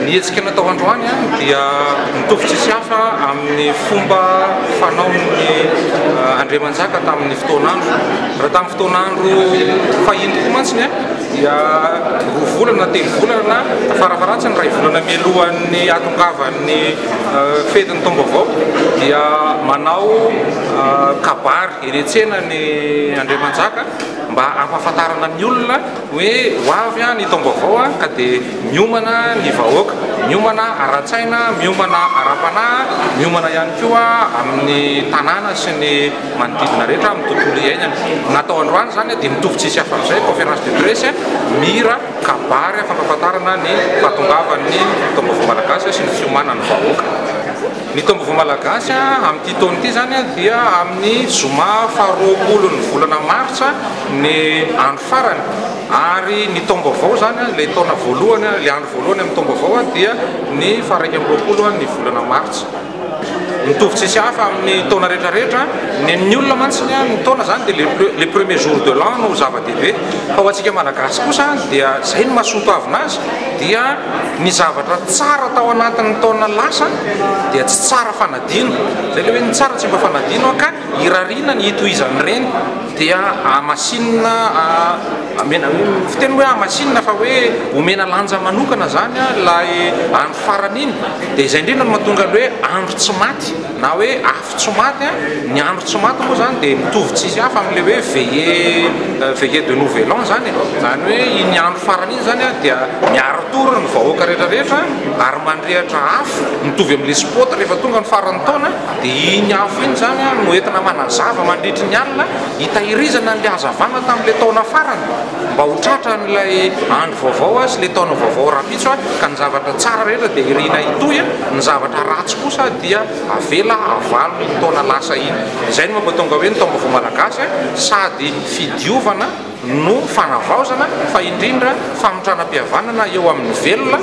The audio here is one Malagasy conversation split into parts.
Ny hetsika natao androany dia mitovy tsisy hafa amin'ny fomba fanaon'ny eh, Andriamanjaka tamin'ny fotoan'andro. Raha tamin'ny fotoan'andro fahiny koa mantsy eh, dia roa volana, telo volana, farafaratsy ny ray volana mialohan'ny hatongavan'ny eh, fetin'ny taom-baovao dia manao kabary eny an-tsena ny Andriamanjaka mba hampahafantarana ny olona Hoe ho avy ny taom-baovao ka dia miomana ny vahoaka, miomana ara-tsaina, miomana ara-panahy, miomana ihany koa amin'ny tanàna sy ny manodidina rehetra, amin'ny tontolo iainana. Ny natao androany izany dia mitovy tsy hisy hafa amin'izay, conférence de presse, mihira, kabary fampahafantarana ny fahatongavan'ny taom-baovao malagasy sy ny fiomanan'ny vahoaka. Ny taom-baovao malagasy amin'ity taona ity izany dia amin'ny zoma faharoapolon'ny volana martsa. ny andro farany ary ny taom-baovao izany an, ilay taona voalohany an, ilay andro voalohany amin'ny taom-baovao an dia ny faharaika amby roapolo an ny volana martsa. Mitovy tsisy hafa amin'ny taona rehetra rehetra an, ny amin'ny olona mantsy ny an ny taona izany dia le pre le premier jour de l'an no zava-dehibe fa ho antsika malagasy kosa an dia izay no mahasoatoavina azy dia ny zavatra tsara tao anatin'ny taona lasa dia tsy tsara fanadino izay le hoe ny tsara tsy mba fanadino an ka irariana ny hitohizan'ireny. dia hamasinina amena fiteny hoe hamasinina fa hoe omena lanja manokana zany a ilay andro farany iny dia izay indrindra no mahatonga ny hoe andro tsy maty na hoe afo tsy maty a ny andro tsy maty moa zany dia mitovy tsy izy hafa amin'ilay hoe veillée veillée de nouvel an zany e zany hoe iny andro farany iny zany a dia miara-tory ny vahoaka rehetra rehetra ary mandrehitra afo mitovy amin'ilay spot rehefa tonga ny faran'ny taona Dia iny afo iny izany no entina manazava mandritry ny alina hitahirizana an'ilay hazavana tamin'ilay taona farany mba ho tratran'ilay andro vaovao sy ilay taona vaovao rahampitso ka ny zavatra tsara rehetra dia iriana hitohy, ny zavatra ratsy kosa dia avela havalo iny taona lasa iny. Izay no mampatonga hoe ny taom-baovao malagasy sady fidiovana. no fanavaozana fa indrindra famitranam-pihavanana eo amin'ny velona,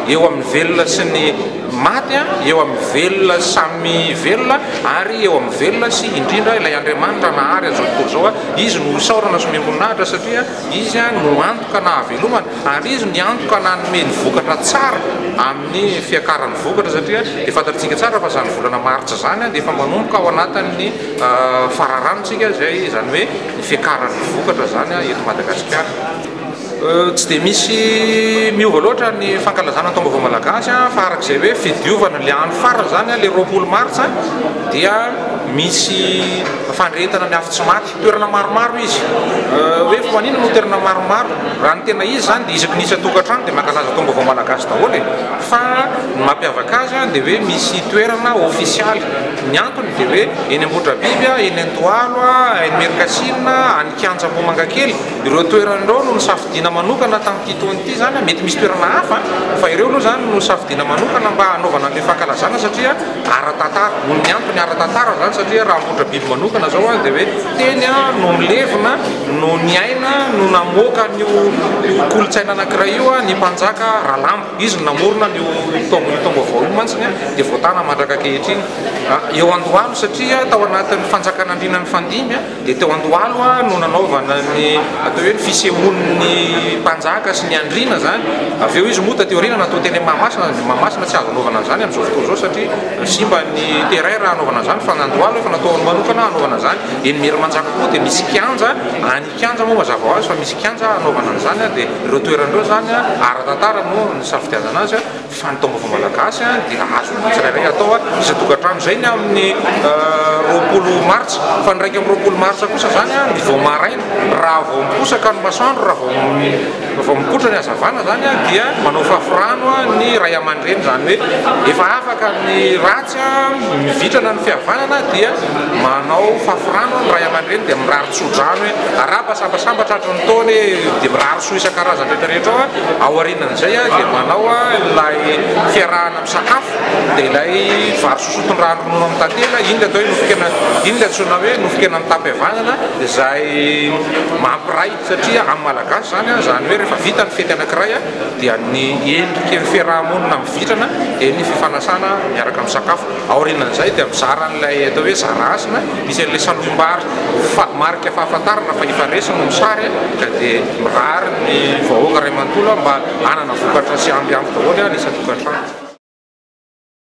eo amin'ny velona sy ny maty, eo amin'ny velona samy velona ary eo amin'ny velona sy indrindra ilay Andriamanitra nahary an'izao tontolo izao. Izy no isaorana sy miombon'ahitra satria Izy no antoka nahavelomana ary Izy ny antoka nanome ny vokatra tsara amin'ny fiakaran'ny vokatra satria dia fantatsika tsara fa izany volana martsa izany dia efa manomboka ao anatin'ny Fararanon-tsika izay, izany hoe ny fiakaran'ny vokatra izany eto Madagasikara. Tsy dia misy miova loatra ny fankalazana ny taom-baovao malagasy fa araka izay hoe fidiovana ilay andro farany izany, ilay roapolo martsa, dia misy fandrehetana ny afo tsy maty. Toerana maromaro izy. Hoe fa maninona no toerana maromaro? Raha ny tena izy izany dia isaky ny isan-tokantrano dia mankalaza taom-baovao malagasy daholo e! Fa ny mampiavaka azy dia hoe misy toerana ofisialy. Ny antony dia hoe eny Ambohidrabiby, eny Andohalo, any Merikasina, any Kianja Ambohimangakely, ireo toerana ireo no nosafidiana manokana tamin'ity taona ity izany, mety misy toerana hafa fa ireo aloha izany no nosafidiana manokana mba hanaovana an'ilay fankalazana satria ara-tantara, noho ny antony ara-tantara izany satria raha Ambohidrabiby manokana izao dia hoe teny no nilevina, no niaina, no namoaka an'io kolontsaina anankiray io ny mpanjaka Ralamba. Izy no namorona an'io taom-baovao io mantsy dia voatàna mandraka ankehitriny. Eo Andohalo satria tao anatin'ny fanjakan'andriana mifandimby dia teo Andohalo no nanaovana ny atao hoe ny fisehoan'ny mpanjaka sy ny andriana izany. Avy eo izy moa taty aoriana natao teny Mahamasina. Ny Mahamasina tsy azo anaovana an'izany amin'izao fotoana izao satria simba ny terrain raha anaovana an'izany fa ny Andohalo efa natao manokana hanaovana an'izany. Eny Merimanjaka koa dia misy kianja any. Kianja moa mazava ho azy fa misy kianja hanaovana an'izany dia ireo toerana ireo izany ara-tantara no nisafidianana azy fa ny taombaovao malagasy dia azon'ny tsirairay atao isan-tokantrano. Izay ny amin'ny roapolo martsa fa ny iraika amby roapolo martsa kosa izany ny vao maraina raha vao miposaka ny masoandro raha vao vao mikotra ny hazavana izany dia manao fafirano ny ray aman-dreny izany hoe efa afaka ny ratsy. Satria mivitrana ny fihavanana dia manao fafy rano ny ray aman-dreny dia mirary tso-drano hoe araba sambasamba tratry ny taona e! dia mirary soa isan-karazany rehetra rehetra ao, ao aorianan'izay dia manao ilay fiarahana misakafo dia ilay vary sosoa tondrahana ronono amin'ny tantely, iny ilay atao hoe nofon-kena, iny ilay antsoina hoe nofon-kenan'ny tapihavanana izay mampiray satria amin'ny malagasy izany izany hoe rehefa vita ny fety anankiray dia ny endriky ny fiaraha-monina mivitrana dia ny fifanasana miaraka misakafo, aorianan'izay dia mizara an'ilay atao hoe zara hasina misy an'ilay salohim-bary fa marika fahafantarana fa efa resy no misary ka dia mirary ny vahoaka iray manontolo mba hanana vokatra sy ampy ampy daholo ny isan-tokantrano.